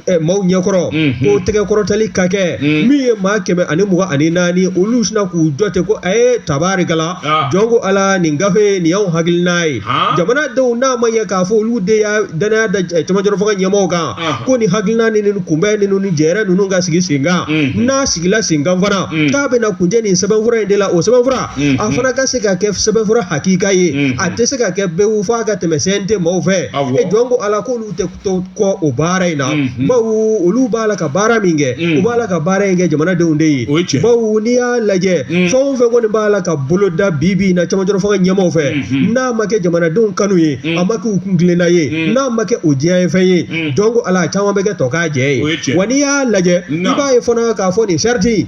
eh, maaw ɲɛkɔrɔ Mhm. ko tɛgɛ kɔrɔtali ka kɛ Mm. min ye maa kɛmɛ ani mugan ani naani olu sina k'u jɔ ten ko a ye tabarikala Ah. jɔn ko ala nin gafe nin y'anw hakilina ye Ah. jamanadenw n'a ma ɲɛ k'a fɔ olu de y'a dannaya da eh, cɛmancɛrɔ fanga ɲɛmaaw kan ko nin hakilina ni kunbɛn ninnu ni jɛrɛ ninnu ka sigi sen kan n'a sigila sen kan fana k'a bɛna kuncɛ nin sɛbɛnfura in de la o sɛbɛnfura a fana ka se ka kɛ sɛbɛnfura hakika ye a tɛ se ka kɛ bɛɛ fo a ka tɛmɛ CNT maaw fɛ e jɔn ko ala k'olu tɛ to kɔ o baara in na bawo olu b'a la ka baara min kɛ u b'a la ka baara in kɛ jamanadenw de ye bawo n'i y'a lajɛ fɛn o fɛn kɔni b'a la ka boloda bi bi na cɛmancɛrɔ fanga ɲɛmaaw fɛ n'a ma kɛ jamanadenw kanu ye a ma kɛ u kuntilenna ye n'a ma kɛ o diyanyefɛn ye jɔn ko ala caman bɛ kɛ tɔkajɛ ye wa n'i y'a lajɛ i b'a ye fana k'a fɔ nin sariti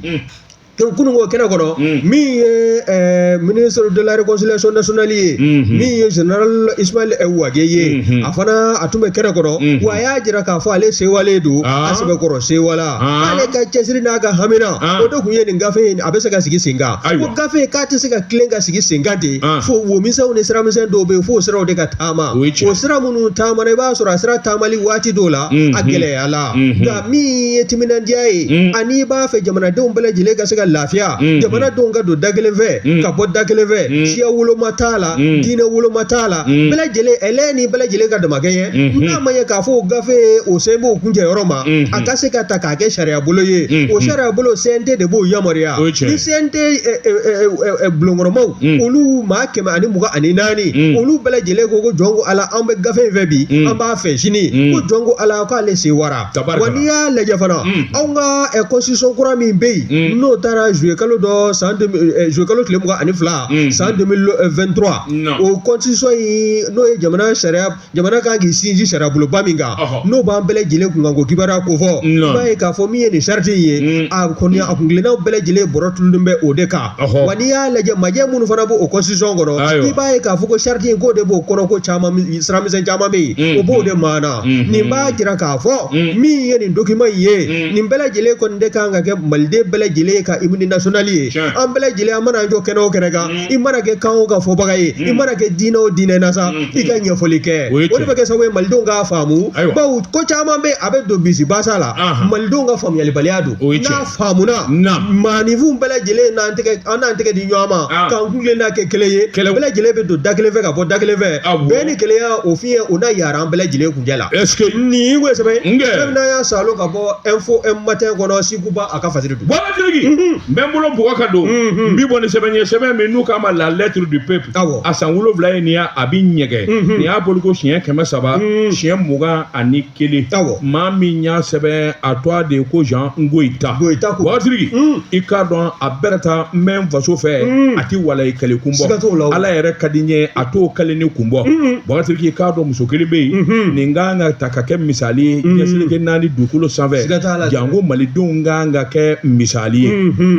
kununko kɛnɛ kɔnɔ min ye ministre de la réconciliation nationale ye min ye général Ismaël Wagué ye a fana a tun bɛ kɛnɛ kɔnɔ wa a y'a jira k'a fɔ ale sewalen don a sɛbɛkɔrɔ sewala ale ka cɛsiri n'a ka hamina o de tun ye nin gafe in a bɛ se ka sigi sen kan ko gafe k'a tɛ se ka tilen ka sigi sen kan ten fo womisɛnw ni siramisɛn dɔw bɛ yen fo o siraw de ka a ma o ye tiɲɛ o sira minnu taamana i b'a sɔrɔ a sira taamali waati dɔw la Mhm. a gɛlɛyala Mhm. nka min ye timinandiya ye Mhm. ani i b'a fɛ jamanadenw bɛɛ lajɛlen ka se ka lafiya Mhm. jamanadenw ka don da kelen fɛ Mhm. ka bɔ da kelen fɛ Mhm. siya woloma t'a la Mhm. diinɛ woloma t'a la Mhm. bɛɛ lajɛlen hɛrɛ ni bɛɛ lajɛlen ka damakɛɲɛ Mhm. n'a ma ye k'a fɔ o gafe o sen b'o kuncɛ yɔrɔ ma Mhm. a ka se ka ta k'a kɛ sariya bolo ye Mhm. o sariya bolo CNT de b'o yamaruya O ye tiɲɛ ye. ni CNT ɛ, ɛ, ɛ, ɛ, ɛ, bulonkɔnɔmaw Mhm. olu maa kɛmɛ ani mugan ani naani mm. olu bɛɛ lajɛlen ko ko jɔn ko ala an bɛ gafe in fɛ bi mm. an b'a fɛ sini mm. ko jɔn ko ala k'ale sewara wa n'i y'a lajɛ fana mm. anw ka eh, constitution kura min bɛ yen mm. n'o tara juillet kalo dɔ san eh, juillet kalo tile mugan ani fila mm. san 2023 no. o constitution in n'o ye jamana sariya jamana kan k'i sinsin sariyaboloba min kan n'o b'an bɛɛ lajɛlen kun kan ko kibaruya ko fɔ i b'a ye k'a fɔ min ye nin sariti in ye a kɔni a kuntilennaw bɛɛ lajɛlen bɔlɔ turulen bɛ o de kan wa n'i y'a lajɛ majɛ minnu fana b'o constitution kɔnɔ i b'a ye k'a fɔ ko sariti in k'o de b'o kɔnɔ ko siramisɛn caman bɛ yen o b'o de ma na nin b'a jira k'a fɔ min ye nin document in ye nin bɛɛ lajɛlen kɔni de kan ka kɛ maliden bɛɛ lajɛlen ka hymne national ye an bɛɛ lajɛlen an mana jɔ kɛnɛ o kɛnɛ kan i mana kɛ kan o kan fɔbaga ye i mana kɛ diinɛ o diinɛ na sa i ka ɲɛfɔli kɛ O ye o de bɛ kɛ sababu ye malidenw k'a faamu Ayiwa. bawo ko caman bɛ a bɛ don bisibasa la Ahan. malidenw ka faamuyalibaliya don O ye tiɲɛ. n'a faamuna Na. maaninfinw bɛɛ lajɛlen n'an tɛgɛ an n'an tɛgɛ di ɲɔgɔn ma Ah. k'an kulen n'a kɛ kelen ye Kɛlɛ- bɛɛ lajɛlen bɛ don da kelen fɛ ka bɔ da kelen fɛ Awɔ. bɛn ni kelenya o fiɲɛ o na yaara an bɛɛ lajɛlen kuncɛ la ɛseke nin ko sɛbɛn Nge. sɛbɛn n'a y'a salo ka bɔ info matin kɔnɔ sekuba a ka fasiri don bakasiriki n bɛ n bolo bugɔ ka don n bi bɔ ni sɛbɛn ye sɛbɛn min n'u k'a ma la lettre du peuple Awɔ. a san wolonwula ye nin ye a bɛ ɲɛgɛn nin y'a bɔli ko siɲɛ kɛmɛ saba siɲɛ mugan ani kelen Awɔ. maa min y'a sɛbɛn a tɔgɔ de ye ko jean goyita Goyita ko. bakasiriki i k'a dɔn a bɛɛ ta n bɛ n faso fɛ a tɛ walayi kale kun Siga t'o la o. bɔ ala yɛrɛ ka di n ye a t'o kaleni kun bɔ bakasiriki i k'a dɔn muso kelen bɛ yen nin kan ka ta ka kɛ misali ye diɲɛ seleke naani dugukolo sanfɛ janko malidenw kan ka kɛ misali ye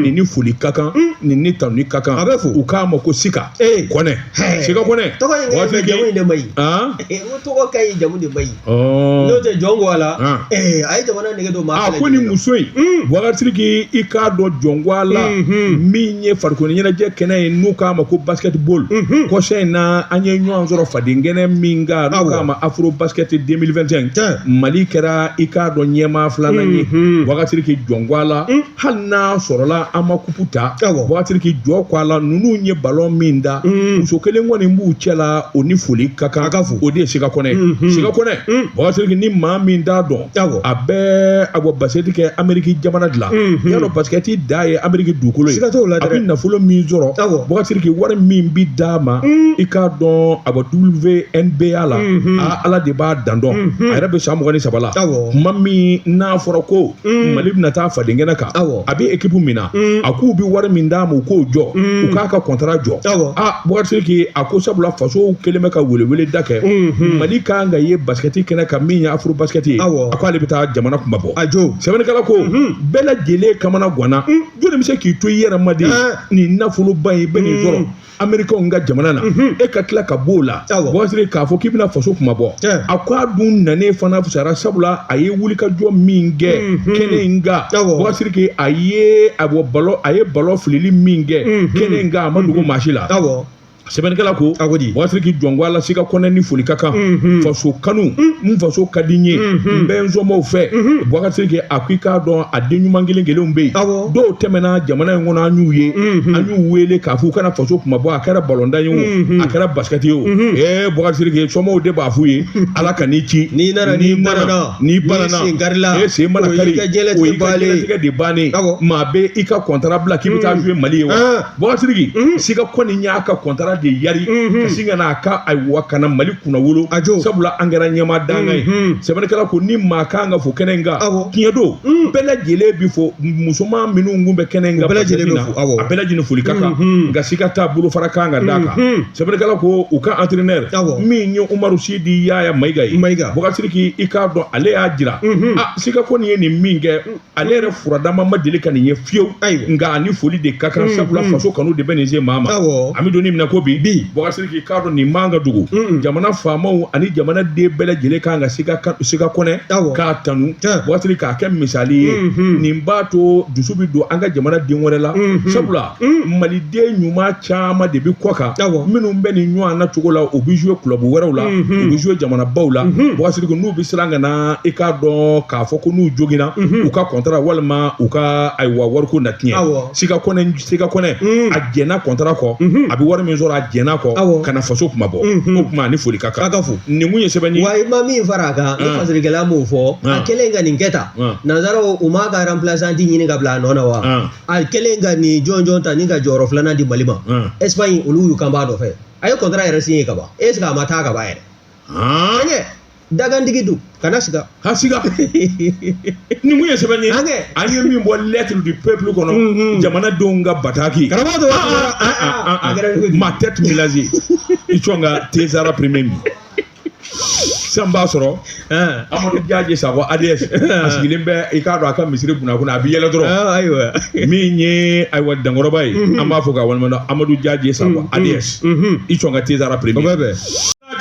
nin ni foli ka kan nin ni tanuni ka kan a bɛ fɔ u k'a ma ko sika kɔnɛ sika kɔnɛ a ko nin muso in bakasiriki i k'a dɔn jɔn ko ala Min ye farikolo ɲɛnajɛ kɛnɛ ye n'u k'a ma ko basketball kɔsa in na an ye ɲɔgɔn sɔrɔ fadenkɛnɛ min kan n'u k'a ma afro basket deux mille vingt-cinq mali kɛra i k'a dɔn ɲɛmaa filanan ye bakasiriki jɔn ko ala hali n'a sɔrɔla an ma kupu ta bakasiriki jɔn ko ala ninnu ye balon min da muso kelen kɔni b'u cɛ la o ni foli ka kan ka fɔ o de ye sika kɔnɛ sika kɔnɛ bakasiriki ni maa min t'a dɔn Awɔ. a bɛ a bɛ basikɛti kɛ ameriki jamana de la Mhm. y'a dɔn basikɛti dan ye ameriki dugukolo ye Siga t'o la a dɛ. bɛ nafolo min sɔrɔ Awɔ. bakasiriki wari min bɛ d'a ma i k'a dɔn a bɛ wnba la Mhm. a ala de b'a dan dɔn Mhm. a yɛrɛ bɛ san mugan ni saba la Awɔ. kuma min n'a fɔra ko mali bɛna taa fadenkɛnɛ kan Awɔ. a bɛ ekipu min na a k'u bɛ wari min d'a ma u k'o jɔ u k'a ka kɔntara jɔ bakasiriki a ko sabula faso kɛlen bɛ ka welewele da kɛ mali ka kan ka ye basikɛti kɛnɛ kan min ye afro basket ye a ko ale bɛ taa jamana kunmabɔ a jo sɛbɛnnikɛla ko bɛɛ lajɛlen kamana ganna jɔnni bɛ se k'i to i yɛrɛ ma de nin nafoloba in bɛ nin sɔrɔ Americainw ka jamana na e ka tila ka b'o la bakasiriki k'a fɔ k'i bɛna faso kunmabɔ a ko a dun nanen fana fisayara sabula a ye wulikajɔ min kɛ kɛnɛ in kan bakasiriki a ye a bɔ balon a ye balon filili min kɛ kɛnɛ in kan a ma dogo maa si la sɛbɛnnikɛla ko bakasiriki jɔn ko ala sika kɔnɛ ni foli ka kan faso kanu n faso ka di n ye n bɛ n somaaw fɛ bakasiriki a ko i k'a dɔn a den ɲuman kelen kelenw bɛ yen dɔw tɛmɛna jamana in kɔnɔ an y'u ye an y'u wele k'a fɔ u ka na faso kunmabɔ a kɛra balontan ye o a kɛra basikɛti ye o ee bakasiriki somaaw de b'a f'u ye ala kan'i ci n'i nana n'i banana n'i banana sen karila e sen mana kari o y'i ka diɲɛlatigɛ de bannen maa bɛ i ka kɔntara bila k'i bɛ taa jouer mali ye wa Bɔgasiriki mhm. sika kɔnɛ y'a ka kɔntara de yari mhm. ka sin ka n'a ka ayiwa ka na mali kunnawolo sabula an kɛra ɲɛmaa dankan ye mhm. sɛbɛnnikɛla ko ni maa ka kan ka fo kɛnɛ kan tiɲɛ don bɛɛ lajɛlen bɛ fo musoman minnu kun bɛ kɛnɛ kan bɛɛ lajɛlen na a bɛɛ lajɛlen foli ka kan nka sika ta bolofara kan ka d'a kan sɛbɛnnikɛla ko u ka antrɛnɛ min ye umaru sidi yaya mayiga ye bɔgasiriki i k'a dɔn ale y'a jira sika kɔnɛ ye nin min kɛ ale yɛrɛ furadama ma deli ka nin ye fiyewu ayiwa nka a ni foli de ka kan sabula faso kanu de bɛ nin se maa ma awɔ an bɛ don nin min na ko bi Bi. bɔgasiriki i k'a dɔn nin man ka dogo Mm. jamana faamaw ani jamanaden bɛɛ lajɛlen kan ka sika ka- sika kɔnɛ Awɔ. k'a tanu Tiɲɛ. bɔgasiriki k'a kɛ misali ye Mhm. nin b'a to dusu bɛ don an ka jamanaden wɛrɛ la Mhm. sabula Mm. maliden ɲuman caman de bɛ kɔkan minnu bɛ nin ɲɔgɔnna cogo la u bɛ zuwe kulabu wɛrɛw la mm-hmm. u bɛ zuwe jamanabaw la mm-hmm. bɔgasiriki n'u bɛ siran ka na i k'a dɔn k'a fɔ ko n'u joginna mm-hmm. u ka kɔntara walima u ka ayiwa wariko na tiɲɛ sika kɔnɛ sika kɔnɛ mm. a jɛnna kɔntara kɔ a bɛ wari min sɔrɔ a jɛnna kɔ ka na faso kunmabɔ o kuma a ni foli ka kan ka fo nin kun ye sɛbɛn ye wa i ma min fara a kan ah. fasirikɛla m'o fɔ a ah. kɛlen ka nin kɛ tan ah. nansaraw u m'a ka ranpilasanti ɲini ka bila a nɔ na wa a kɛlen ka nin jɔnjɔn ta ni ka jɔyɔrɔ filanan di mali ma espagne olu y'u kan b'a nɔfɛ a ye kɔntara yɛrɛ siɲe ka ban est-ce que a ma taa ka ban yɛrɛ an ɲɛ dakantigi dun kana siga ka siga nin kun ye sɛbɛn ye an ye min bɔ lettre du peuple kɔnɔ jamanadenw ka bataki karamɔgɔ dɔ maa tɛ tun laze i cɔn ka tezara premier min sisan b'a sɔrɔ amadu jaji sakɔ ADS a sigilen bɛ i k'a dɔn a ka misiri kunna kunna a bɛ yɛlɛ dɔrɔn ayiwa min ye ayiwa dankɔrɔba ye an b'a fo k'a waleɲumandɔn amadu jaji sakɔ ADS i cɔn ka tezara premier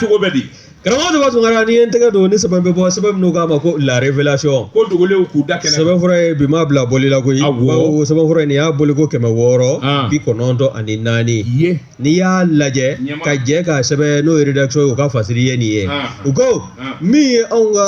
cogo bɛ di karamɔgɔ denba tunkara n'i ye n tɛgɛ don ni sɛbɛn bɛ bɔ sɛbɛn min n'u k'a ma ko la révélation ko dogolenw k'u da kɛnɛ sɛbɛnfura ye bi ma bila bɔli la koyi bawo sɛbɛnfura in nin y'a bɔli ko kɛmɛ wɔɔrɔ bi kɔnɔntɔn ani naani ye n'i y'a lajɛ Ɲɛma- ka jɛ ka sɛbɛn n'o ye rédaction ye u ka fasiri ye nin ye Ah. u ko Ah. min ye anw ka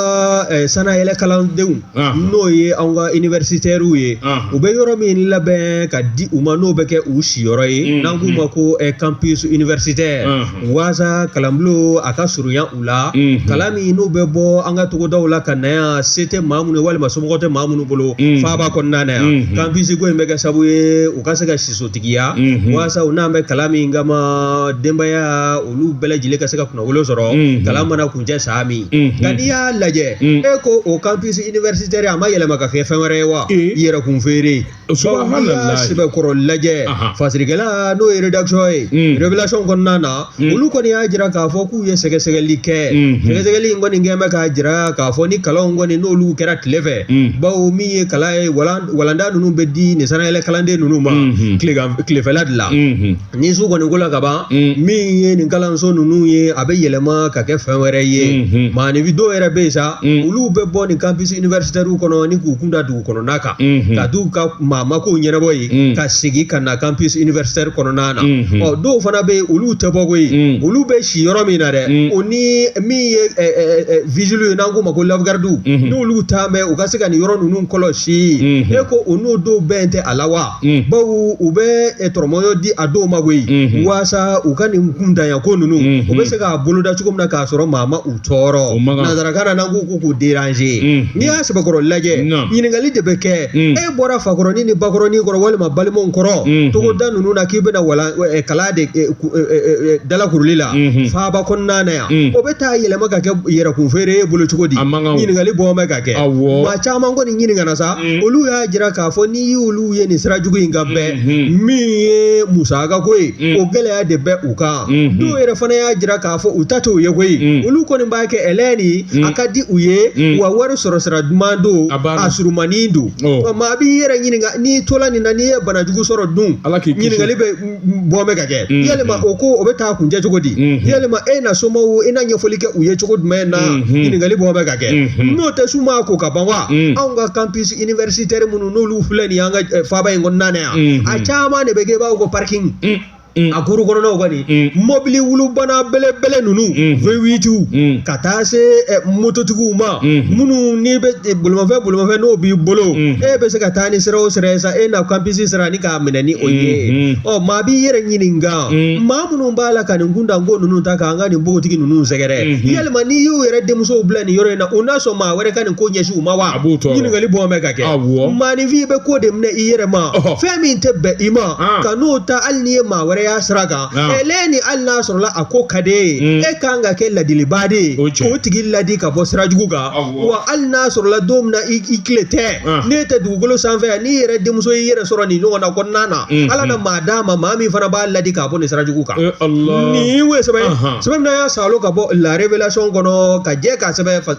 eh, sanayɛlɛ kalandenw Ah. n'o ye anw ka universitaires ye Ah. u bɛ yɔrɔ min labɛn ka di u ma n'o bɛ kɛ u siyɔrɔ ye Mm, n'an k'u ma ko eh, campus universitaire Ah. waasa kalanbulon a ka surunya u la Mhm. kalan minnu bɛ bɔ an ka togodaw la ka na yan se tɛ maa minnu ye walima somɔgɔ tɛ maa minnu bolo Mhm. faaba kɔnɔna na yan Mhm. campus ko in bɛ kɛ sababu ye u ka se ka siso Tigiya walasa u nalen bɛ kalan min kama denbaya olu bɛɛ lajɛlen ka se ka kunnawolo sɔrɔ kalan mana kuncɛ san min nka n'i y'a lajɛ e ko o campus universitaire a ma yɛlɛma ka kɛ fɛn wɛrɛ ye wa yɛrɛ kun feere sɛbɛkɔrɔ lajɛ fasirikɛla n'o ye rédaction ye révélation kɔnɔna na Hmm. Olu kɔni y'a jira k'a fɔ k'u ye sɛgɛsɛgɛli kɛ hmm. sɛgɛsɛgɛli in kɔni kɛ bɛ k'a jira k'a fɔ ni kalanw kɔni n'olu kɛra tile fɛ hmm. bawo min ye kalan ye walanda ninnu bɛ di nin sannayɛlɛ kalanden ninnu ma tilefɛla de la ni su kɔni kola ka ban min ye nin kalanso ninnu ye a bɛ yɛlɛma ka kɛ fɛn wɛrɛ ye maaninfin dɔw yɛrɛ bɛ yen sa olu bɛ bɔ nin campus universitaire kɔnɔ ni k'u kunda dugu kɔnɔna kan ka t'u ka maamako ɲɛnabɔ yen ka segin ka na campus universitaire kɔnɔna na ɔ dɔw fana bɛ yen olu tɛ bɔ koyi olu bɛ si yɔrɔ min na dɛ o ni min ye vigile ye n'an k'o ma ko la garde n'olu ta mɛn u ka se ka nin yɔrɔ ninnu kɔlɔsi si e ko u n'o dɔw bɛn tɛ a la wa baw u bɛ tɔrɔmɔyɔ di a dɔw ma koyi walasa u ka nin kuntanya ko ninnu u bɛ se k'a boloda cogo min na k'a sɔrɔ maa ma u tɔɔrɔ O man kan. nanzarakan na n'an ko ko k'u deranze Mm. n'i y'a sɛbɛkɔrɔ lajɛ Naam. ɲininkali de bɛ kɛ Mm. e bɔra fakɔrɔnin ni bakɔrɔnin kɔrɔ walima balimaw kɔrɔ Mm. togoda ninnu na k'i bɛna wala eh, kalan de eh, ku- eh, eh, eh, dalakuruli la Mhm. faaba kɔnɔna na yan Mm. o bɛ taa yɛlɛma ka kɛ yɛrɛkunfeere ye bolo cogo di A man kan o. ɲininkali bɔn bɛ ka kɛ Awɔ. maa caman kɔni ɲininkana sa Mm. olu y'a jira k'a fɔ n'i y'olu ye nin sira jugu in kan bɛɛ Mhm. min ye musaka ko ye Mm. o gɛlɛya de bɛ u kan Mhm. dɔw yɛrɛ fana y'a jira k'a a fɔ u ta t'o ye koyi Mm. olu kɔni b'a kɛ ɛlɛn ni Mm. a ka di u ye Mm. wa wari sɔrɔ sira duman don A banna. a surumanin don Oh. Ɔ, maa b'i yɛrɛ ɲininka n'i tola nin na n'i ye banajugu sɔrɔ dun Ala k'i kisi. ɲininkali bɛ m- m- bɔ bɛ ka kɛ Mm. yalima o ko o bɛ taa kuncɛ cogo di Mhm. yalima e na somaw i na ɲɛfɔli kɛ u ye cogo jumɛn na Mhm. ɲininkali bɔ bɛ ka kɛ Mhm. n'o tɛ su maa ko ka ban wa Mm. anw ka campus universitaire minnu n'olu filɛ nin ye an ka eh, faaba in kɔnɔna na yan Mhm. a caman de bɛ kɛ i b'a fɔ ko parking Mm. Mm. a kuru kɔnɔnaw kɔni Mm. mɔbili wulubana belebele ninnu Mhm. vewitiw Mm. ka taa se eh, mototigiw ma Mhm. minnu n'i bɛ eh, bolimafɛn bolimafɛn n'o b'i bolo Mhm. e bɛ se ka taa ni sira o sira ye sa e na campus sira ni k'a minɛ ni o ye Mhm. ɔ maa b'i yɛrɛ ɲininka Mm. maa minnu b'a la ka nin kuntanko ninnu ta k'an ka nin npogotigi ninnu sɛgɛrɛ Mhm. yalima n'i y'u yɛrɛ denmusow bila nin yɔrɔ in na u n'a sɔn maa wɛrɛ ka nin ko ɲɛsin u ma wa A b'u tɔɔrɔ. ɲininkali bɔn bɛ ka kɛ Awɔ. maaninfin bɛ ko de minɛ i yɛrɛ ma Ɔhɔ. fɛn min tɛ bɛn i ma Ahan. ka n'o ta hali n'i ye maa wɛrɛ y'a sira kan Naam. ɛ lɛ ni hali n'a sɔrɔla a ko ka d'e ye Mm. e kan ka kɛ ladilibaa de ye O cɛ. k'o tigi ladi ka bɔ sira jugu kan Awɔ. wa hali n'a sɔrɔla don min na i i tile tɛ Ah. n'e tɛ dugukolo sanfɛ yan n'i yɛrɛ denmuso y'i yɛrɛ sɔrɔ nin ɲɔgɔnna kɔnɔna na Mm, ala na mm. maa d'a ma maa min fana b'a ladi k'a bɔ nin sira jugu kan Eh, Allah. nin ye sɛbɛn ye Ahan. sɛbɛn min y'a salo ka bɔ la révélation kɔnɔ ka jɛ k'a sɛbɛn fa-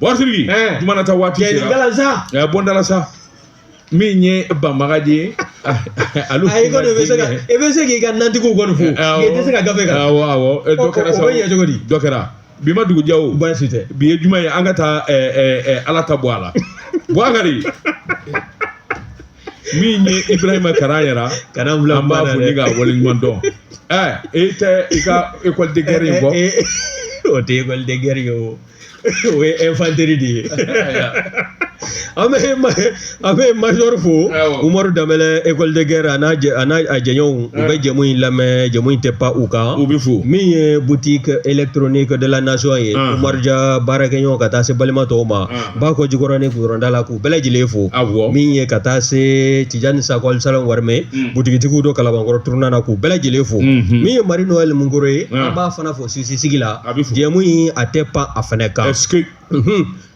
Bɔsiriki juma nata waati bɔnda la sa min ye banbaga de ye ali i bɛ se k'i ka nantigiw kɔni fo tɛ se ka gafe kɛra sɔrɔ ye cogo di dɔ kɛra bi ma dugu jɛ baasi tɛ bi ye juma ye an ka taa ala ta bɔ a la bukari min ye ibarahima kara yɛrɛ ka an b'a fo ni ka waleɲuman dɔn e tɛ i ka ekɔli de gɛrɛ in bɔ o tɛ ekɔli de gɛrɛ ye o o ye ɛnfanteri de ye an bɛ an bɛ majɔri fo umaru danbɛlɛ ekɔli de gɛrɛ n'a a jɛɲɔgɔnw u bɛ jɛmu in lamɛn jɛmu in tɛ pan u kan u bɛ fo min ye butiki elegitoroniki de la nasɔn ye umaru ja baarakɛɲɔgɔn ka taa se balima tɔw ma bakɔ jikɔrɔni kuyɔrɔda la k'u bɛɛ lajɛlen fo min ye ka taa se tijani sakɔli salon warimɛ butigitigiw don kalabankɔrɔ turunan na k'u bɛɛ lajɛlen fo min ye mari nowɛli munkɔrɔ ye an b'a fana fo O sisi sigi la a bɛ jɛmu in a tɛ pan a fana kan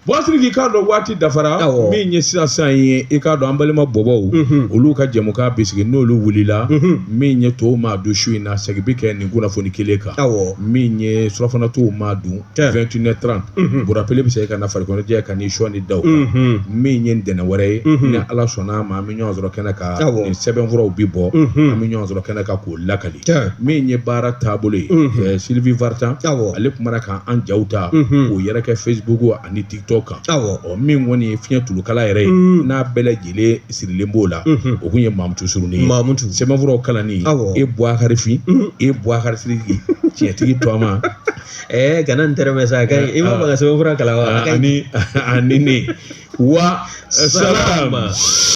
bɔsiriki i k'a dɔn waati dafara min ye sisan sa ye i k'a dɔn an balima bɔbɔw olu ka jɛmukan bɛ sigi n'olu wulila min ye tɔw ma don su in na segin bɛ kɛ nin kunnafoni kelen kan min ye surafana tɔw ma dun vingt et une heures trente bɔn rapɛli bɛ se ka na farikolondi ka ni shɔni da min ye ntɛnɛn wɛrɛ ye ni ala sɔnna a ma an bɛ ɲɔgɔn sɔrɔ kɛnɛ kan ni sɛbɛnfuraw bɛ bɔ an bɛ ɲɔgɔn sɔrɔ kɛnɛ kan k'olu o lakali min ye baara taabolo ye silivi waritan ale tun k' an jaw ta k'o yɛrɛ kɛ fesibuku ani tikitɔki kan ɔ min kɔni ye fiɲɛ tulukala yɛrɛ ye n'a bɛɛ lajɛlen sirilen b'o la o kun ye mamutu suruni ye sɛbɛnfuraw kalanni e buwakari fin e buwakari sidiki tiɲɛtigi tɔma ɛ g n tɛ sa i ma makan sɛbɛnfura kalan wa ni ne wa salamu